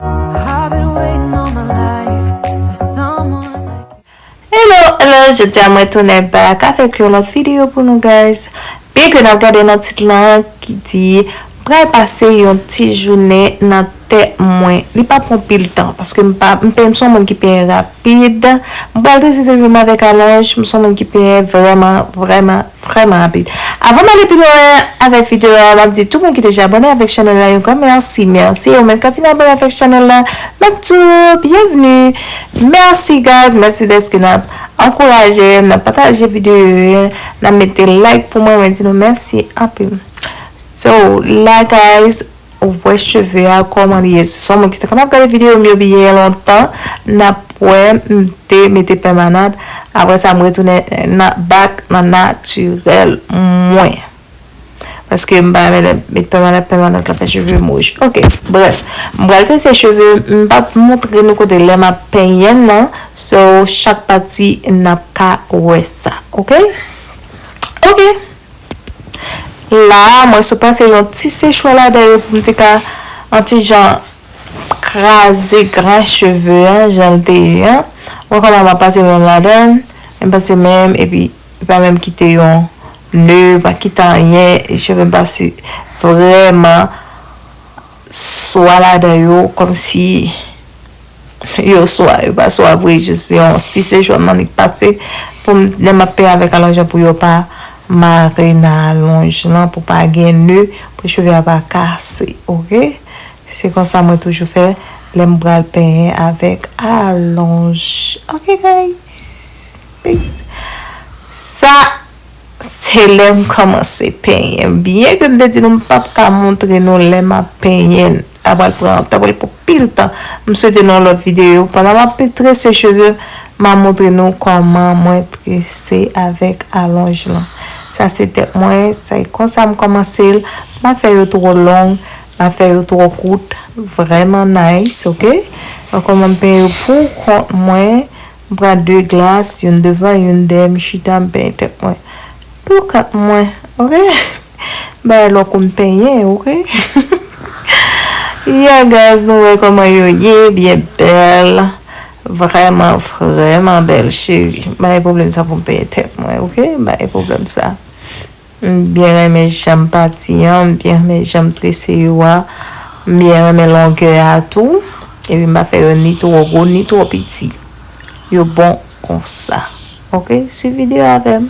Hello hello jodi a mwen tounen back avèk yon lòt video pou nou guys byen ke nap gade nan tit lan ki di pral pase yon ti jounen nan tè mwen li pa pran pil tan paske m pa m peye m son moun ki peye rapid m pral deside vin avèk alonj m son moun ki peye vrèman vrèman. Vrèman rapid. Avan m ale pi lwen avèk video a, m ap di tout moun ki deja abòne avèk chanèl la yon gran mèsi. Mèsi e ou menm k ap vin abòne avèk chanèl la, m ap di w byenvni. Mèsi guys, mèsi dèske n ap ankouraje, n ap pataje video yo, n ap mete like pou mwen, mwen di nou mèsi anpil. So la guys, Ou wè cheve a kòman li ye son moun ki te kapab gade video m yo byen lontan nap wè m te mete pèmanant aprè sa m retounen nan back nan natirèl mwen paske m pa renmen lè m met pèmanant pèmanant la fè cheve m wouj ok brèf m pral trese cheve m pap montre nou kote lè map penyen nan so chak pati nap ka wè sa ok ok. La a, mwen sou panse yon ti sechwe ladan yo pou m te ka yon ti jan kraze gran cheve a jan l te ye an. Ou wè kòman m ap pase men m ladan l, m pase men m epi m pa menm kite yon ne, m pa kite anyen, cheve m pase vrèman. swa ladan yo kòmsi yo swa yo pa swa vre jis yon ti sejou nan li k pase pou m lè m ap penyen avèk alonj lan pou yo pa mare nan alonj lan pou pa gen nè pou cheve a pa kase ok se konsa mwen toujou fè lè m pral penyen avèk alonj ok guys peace sa. Se lè m kòmanse penyen. Byen ke m te di nou m pap ka montre nou lè m ap penyen n. Ta pral pran, ta pral pran anpil tan. M swete nan yon lòt videyo, pandan m ap trese cheve, ma montre nou kòman mwen trese avèk alonj lan. Sa se tèt mwen, se konsa m kòmanse l. M pa fè yo twò long, m pa fè yo twò kout. Vrèman nice, ok? Mwen kòman m penyen yo pou kont mwen. M pran de glas, youn devan, youn dèyè, m chita, m penyen tèt mwen. Pou kont mwen, ok. M pa wè lò kou m penyen, ok. Yeah guys, nou wè kòman yo ye, byen bèl. Vrèman, vrèman bèl cheri. M pa gen pwoblèm sa pou m penyen tèt mwen, ok. M pa gen pwoblèm sa. M byen renmen janm pati an, m byen renmen janm trese yo a, m byen renmen longè a tou, epi m pa fè yo ni twò gwo ni twò piti, yo bon konsa ok swiv videyo avè m.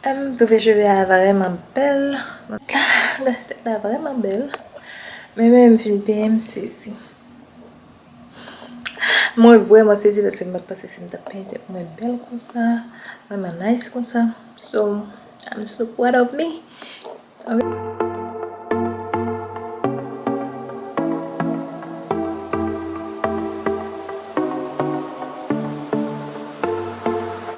Mtrouve cheve a vreman bel. Tèt la vreman bel. Men menm m fin peye m sezi. Mwen vreman sezi paske m pat panse si m tap peye tèt mwen bel konsa. Vreman nice konsa. So I'm so proud of me.